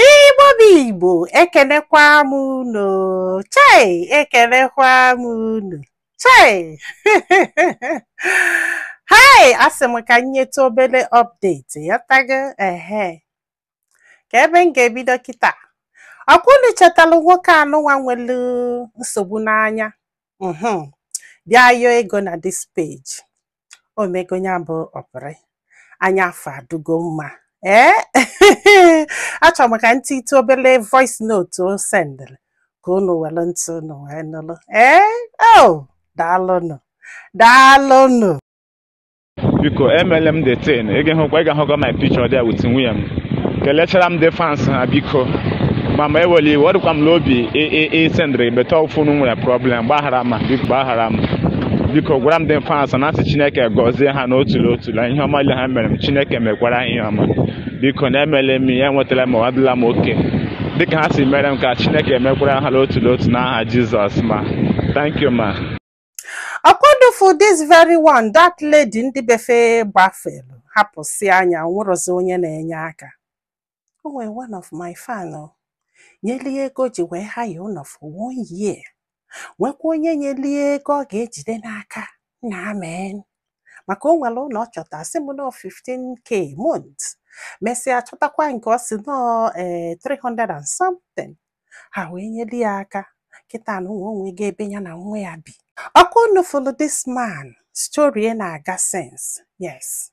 Igbo bụ Igbo ekenekwa m unu chei ekenekwa m unu chei hei asị m ka m nyetụ obere update ịghọtago ehe ka ebe m ga-ebido kịta ọkwa unu chetalụ nwoke anụnwa nwere nsogbu n'anya mhm. bịa yọọ ego na this page o mego ya bụ operation anya afụ adịgo mma ee achọrọ m ka m tiitụ obele voice note o sendịrị ka unu were ntị unu wee nụrụ ee o daalụnụ daalụnụ biko emele m the thing ị ga-ehụkwa ị ga-ahụkwa my picture there with nwunye m kelechara m the fans ha biko ma ma ewele iwe ọ dịkwa m n'obi ị- ị- ị sendịrị but phone nwere problem gbaghara ma biko gbaghara m biko gwara m the fans na asị chineke gọzie ha n'otu n'otu na ihe ọma niile ha mere m chineke mekwara ha ihe ọma biko na emele m ya enwetara m adịla m okay dịka ha si mere m ka chineke mekwara ha n'otu n'otu n'aha jizọs ma thank you ma ọkwa unu fụ this very one that lady ndị be fa gbafelu hapụsịa nya nwerọzi onye na-enye aka o nwere one of my fan o nyeli ya ego ji wee hire ụlọ for one year nwekwa onye nyeli ya ego ọ ga-ejide n'aka na amen maka o nwere ụlọ ọ chọta sị m nọ 15k month mesịa chọtakwa nke ọ sị nọ ee 300 and something ha wee nyeli ya aka kịta nụwa o nwego ebe ya na nwa ya bi ọkwa unu follow this man story na-aga since yes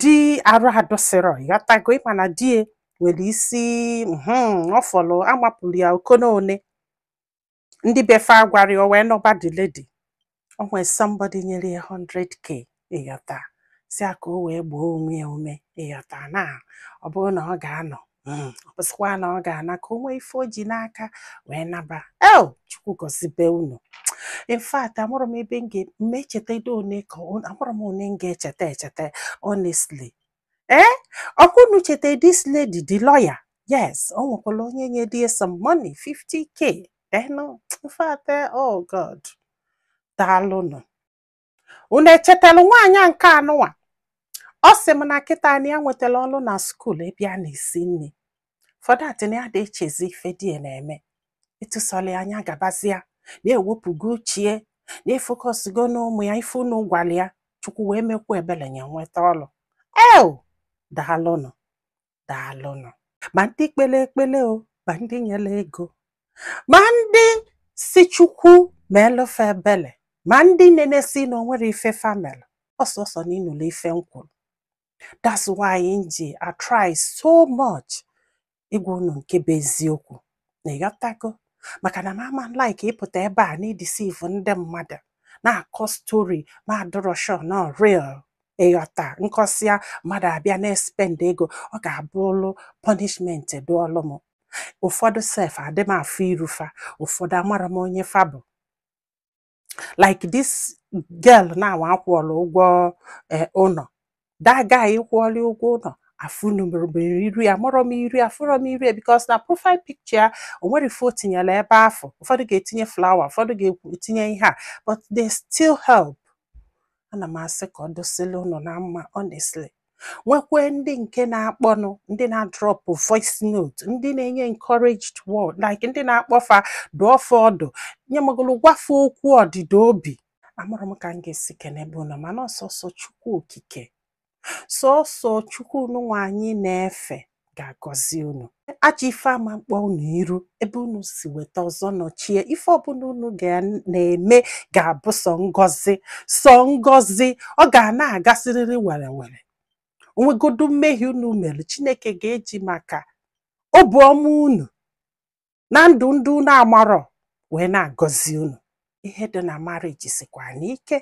di arụ adịsịrọ ịghọtago ịma na di ya nwere isi mhm, ọ fọrọ amapụrụ ya okona one ndị be fa gwara ya o wee nọba the lady o nwee somebody nyere ya 100k ịghọta sị ya ka o wee gbaa onwe ya ume ịghọta na ọ bụrụ na ọ ga-anọ hmm, ọ bụsịkwa na ọ ga-ana ka o nwee ife o ji n'aka wee naba ee chukwu gọzibe unu in fact amarọ m ebe m ga-eme echeta edo one ka amarọ m one m ga-echeta echeta honestly ee eh? ọkwa unu cheta this lady the lawyer yes ọ nwekwara onye nye di ya some money 50k then in fact eh, oh god daalụnụ unu echetara nwaanyị a nke anụwa ọ sị m na kịta na ya nwetara ọrụ na school ebe a na-esi nri for that na ya adị echezi ife di ya na-eme etu sọrọ ya nya gabazia na ewepụgo uche ya na efocusgo n'ụmụ ya ife unu gwara ya chukwu wee mekwa ebere ya nweta ọrụ eo daalụnụ daalụnụ ma ndị kpele ekpele o ma ndị nyere ego ma ndị sị chukwu meelụ fa ebele ma ndị nenesi na onwere ife fa melụ ọ sọsọ na ịnụlụ ife m kwuru that's why m ji atry so much ịgwa unu nke bụ eziokwu na ịghọtago maka na m ama like ịpụta ebe a na-edeceive ndị mmadụ na-akọ story m adịrọ sure na ọ real ịghọta m kọsịa mmadụ abịa na-espend ego ọ ga-abụlụ punishment dụọlụ m ụfọdụ sef adị m afụ iru fa ụfọdụ amarọ m onye fa bụ like this girl now a kwụọlụ ụgwọ eh, ụnọ that guy ị kwụọlụ ụgwọ ụnọ afụnurọ m iru ya amarọ m iru ya afụrọ m iru ya because na profile picture ya o nwerọ ife o tinyelu ebe afụ ụfọdụ ga-etinye flower ụfọdụ ga-etinye ihe a but they still help ana m asị ka ọ dịsịlị unu na mma honestly nwekwee ndị nke na-akpọnụ ndị na-adrop voice note ndị na-enye encouraged word like ndị na-akpọ fa dụọ fa ọdụ nye magolo gwa fa okwu ọdịda obi amarọ m ka m ga-esi kenebe unu mana ọ sọsọ chukwu okike sọsọ chukwu nụnwa anyị na-efe ga-agọzi unu ajọ ife ama mkpọ unu iru ebe unu si weta ọzọ nọchie ife ọbụna unu na-eme ga-abụ sọ ngọzi sọ ngọzi ọ ga na-agasịrịrị were were onwegodu mmehie unu mere chineke ga-eji maka obi ọma unu na ndụ ndị unu amarọ wee na-agọzi unu ihe dị na marriage sikwanụ ike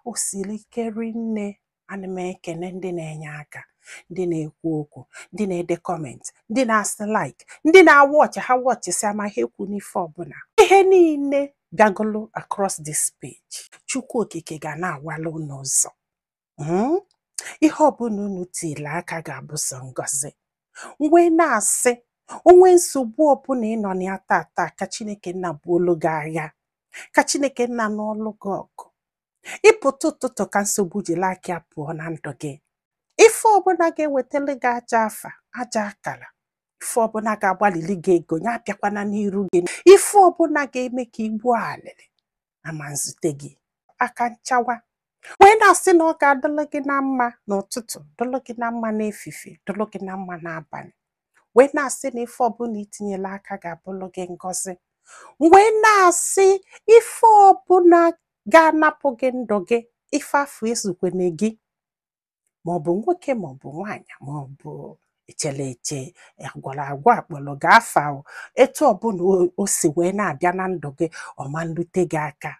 o siri ike rinne ana m ekene ndị na-enye aka ndị na-ekwu okwu ndị na-ede comment ndị na-asị like ndị na-awatch ha watchsịa ama ha ekwu n'ife ọbụna ihe niile bịagolo across this page chukwu okike ga na-awala unu ụzọ Hmm? ihe ọbụna unu tiri aka ga-abụ sọ ngọzi m wee na-asị onwee nsogbu ọbụna ị nọ na ya tata ka chineke nna buolu gị agha ka chineke nna nụọlụ gị ọgụ ị pụta ụtụtụ ka nsogbu jiri aka ya pụọ na ndụ gị ife ọbụna ga-ewetara gị ajọ afa ajọ akara ife ọbụna ga-agbalili gị ego ya abịakwana n'iru gị ife ọbụna ga-eme ka igbu alịlị ama nzute gị aka nchawa wee na-asị na ọ ga-adịlụ gị na mma n'ụtụtụ dịlụ gị na mma n'efife dịlụ gị na mma n'abalị wee na-asị na ife ọbụna i tinyelu aka ga-abụlụ gị ngọzi wee na-asị ife ọbụna ga-anapụ gị ndụ gị ife afụ ezukwene gị ma ọ bụ nwoke ma ọ bụ nwaanyị ma ọ bụ echere eche agwara agwa akpọrọ gị afa o. etu ọbụla o- o si wee na-abịa na ndụ gị ọ ma nlute gị aka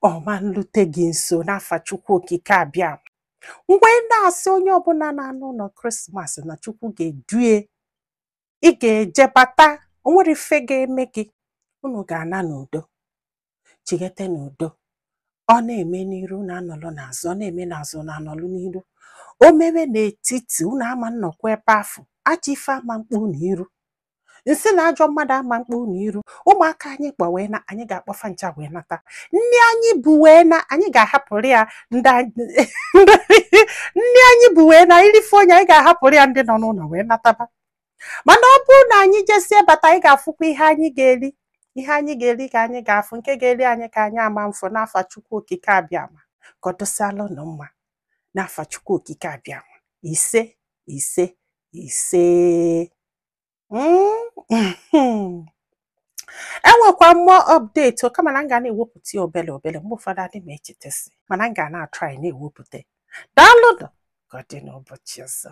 ọ ma nlute gị nso n'afa chukwu okike abịama m wee na-asị onye ọbụla na-ana ụlọ krismas na chukwu ga-edue ị ga-eje bata o nwero ife ga-eme gị unu ga-ana n'udo chighete n'udo ọ na-eme n'iru unu anọlụ n'azụ ọ na-eme n'azụ unu anọlụ n'iru o mewe n'etiti unu ama nnọkwa ebe afụ ajọ ife ama mkpu unu iru nsị na ajọ mmadụ ama mkpu unu iru ụmụaka anyị kpọ wee naa anyị ga-akpọfa ncha wee nata nni anyị bu wee naa anyị ga-ahapụrụ ya ndị anyị- nni anyị bu wee naa irife onye anyị ga-ahapụrụ ya ndị nọ n'ụlọ wee nataba mana ọ bụrụ na anyị jesie bata anyị ga-afụkwa ihe anyị ga-eri ihe anyị ga-eri ka anyị ga-afụ nke ga-eri anyị ka anyị ama mfụ n'afa Chukwu Okike Abịama ka ọ dụsịala ụnụ mma n'afa Chukwu Okike Abịama ise ise ise Mm. enwekwa mụ update o, kama na m ga na-ewepụta ya obele obele mgbe ụfọdụ adị m echetasi mana m ga na-atry na-ewepụta daalụnụ ka ọ dị n'ụbọchị ọzọ